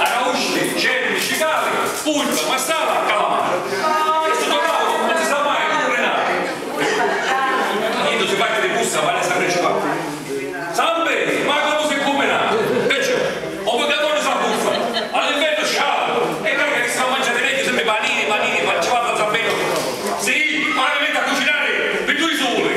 Arausti, cervi, cicali, purpra, marsala, calamari. E sutta o tavulu non si sa mai comu rinari. Quannu si parri di busta vali a sapiri ci parri. Samperi, mai comu si cumbina. Pecciò, o mugghiaturi s'abbuffa, a l'invernu scialu e carca chi si fa manciari megghiu sempri panini, panini, pancivatta, zampeddu. Si, ora mi mettu a cucinari pi dui suli.